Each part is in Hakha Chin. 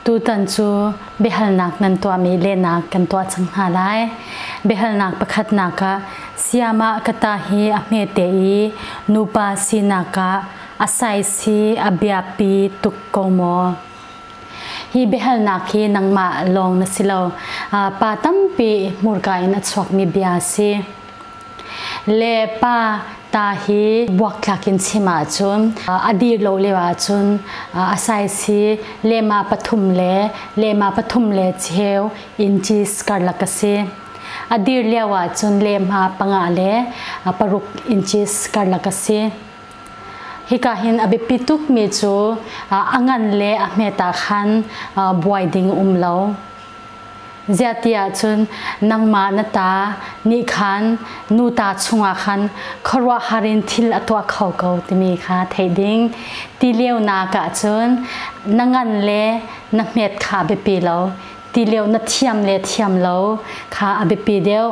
Tutan cu biahalnak nan tuahmi lehnak kan tuah cang hna lai. Biahalnak pakhatnak ah sayamah ka ta hi a hmete i nupa sinak ah a saisi a biapi tuk ko maw? Hi biahalnak hi nangmah lawng na si lo, pa tampi hmurka in a chuakmi bia a si. le pa ta hi buakthlak in chim ahcun a dir lo lio ahcun a saisi lema pathum le lema pathum le cheu inches karlak a si a dir lio ahcun lehma panga le paruk inches karlak a si hika hin a biapi tukmi cu a ngan le a hmet ah khan buai ding um lo Ziahtiah cun nangmah na ta nih khan nu ta chungah khan khuaruahhar in thil a tuah kho ko timi kha theih ding. Ti lionak ah cun na ngan le na hmet kha a biapi lo, ti lio na thiam le thiam lo kha a biapi deuh.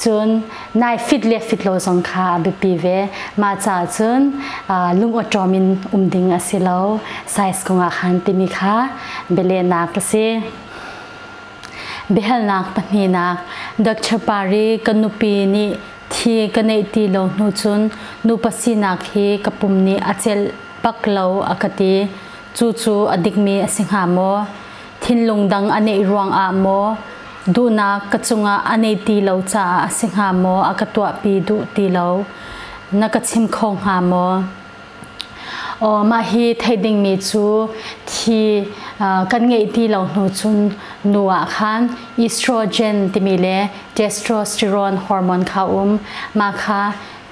Cun nai fit le fit lo zong kha a biapi ve mah caah cun lungawṭawm in um ding a si lo size kung ah khan timi kha bialehnak a si biahalnak pahnihnak Dr. Pari ka nupi nih thi ka neih ti lo hnu cun nupa sinak hi ka pum nih a celh pak lo a ka ti cu cu a dikmi a si hnga maw thinlung dang a neih ruangah maw duhnak ka cungah a nei ti lo caah a si hnga maw a ka tuahpi duh ti lo na ka chim kho hnga maw Oh, mah hi thei dingmi cu thi uh, kan ngei ti lo hnu cun nu ah khan estrogen timi le testosterone hormone kha um ma kha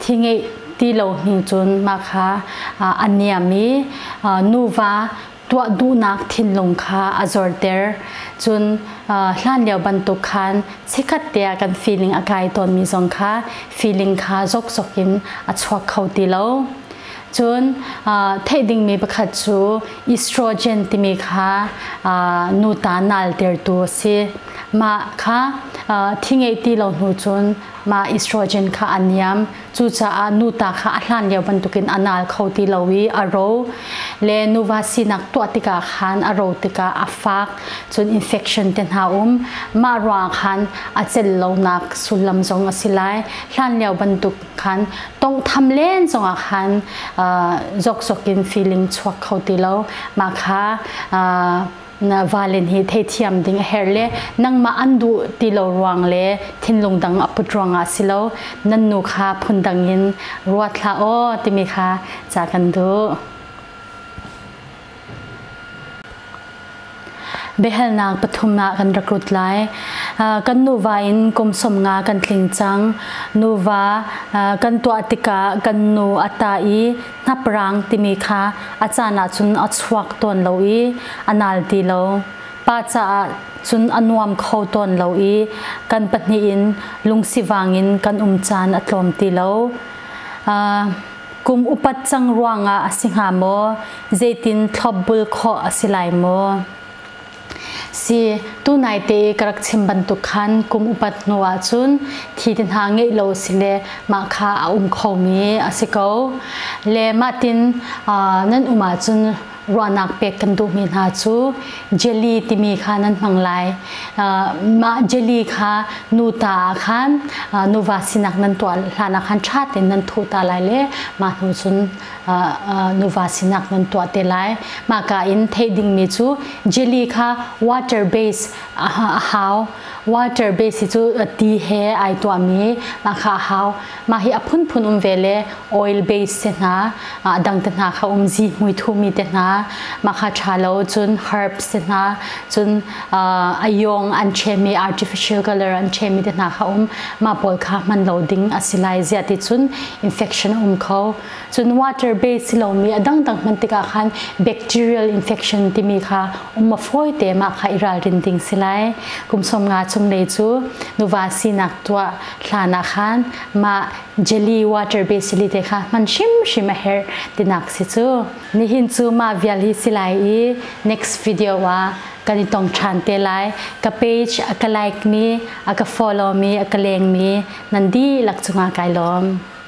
thi ngei ti lo hnu cun ma kha uh, a niam i uh, nuva tuah duhnak thinlung kha a zorter. Cun hlan lio bantuk khan sikhat te ah kan feeling a kai tawnmi zong kha feeling kha zokzok in a chuak kho ti lo. Cun theih dingmi pakhat cu estrogen timi kha nuta naltertu a si. Mah kha thi ngei ti lo hnu cun mah estrogen kha a niam. Cucaah nuta kha a hlan lio bantukin a nal kho ti lo i a ro le nuva sinak tuah tikah khan a ro tikah a fak cun infection te hna um mah ruang khan a cel lonak sullam zong a si lai hlan lio bantuk khan tonghtham len zongah khan uh, zokzok in feeling chuak kho ti lo mah kha uh, na vale nih theithiam ding a herh le nangmah an duh ti lo ruang le thinlung dang a put ruangah si lo nan nu kha phundang in ruat hlah aw timi kha ca kan duh. biahalnak pathum ah kan recruit lai kan nuva in kum sawm nga kan tling cang nuva kan tuah tikah kan nu a ta i Hnapraang timi kha a caan ahcun a chuak tawn lo i a nal ti lo. Pa caah cun a nuam kho tawn lo i kan pahnih in lungsivang in kan um caan a tlawm ti lo. Uh, kum upat cang ruangah a si hnga maw? Zeitin thlopbul khawh a si lai maw? si tunai te ka rak chim bantuk khan kum upat hnu ah cun thi te hna ngeih lo si le mah kha a um kho mi a si ko le mah tin nan um ah cun ruahnak pek kan duhmi hna cu jelly timi kha nan hmang lai mah jelly kha nu ta ah khan nuva sinak nan tuah hlan ah khan ṭha tein nan thuh ta lai le mah hnu cun nuva sinak nan tuah te lai. Mahka in thei dingmi cu jelly kha water base a hau. Water base hi cu ti he ai tuahmi mahka a hau. Mah hi a phunphun um ve le oil base te hna, dang te hna kha um zi hmui thumi te hna. Mahka tha lo cun herbs te hna, cun a yong an chemi artificial color an chemi te hna kha um. Mah pawl kha hman lo ding a si lai. Ziah ti cun infection a um kho. cun water base silomi a dangdang hman tikah khan bacterial infection timi kha um a fawi te ma kha i ralrin ding si lai kum som nga chung lei cu nuva sinak tuah hlan ah khan ma jelly water base li te kha hman hrim hrim a herh tinak si cu nihin cu ma vial hi si lai i next video ah kan i tong than te lai ka page a ka like mi a ka follow mi a ka leng mi nandi lak chunga kai lom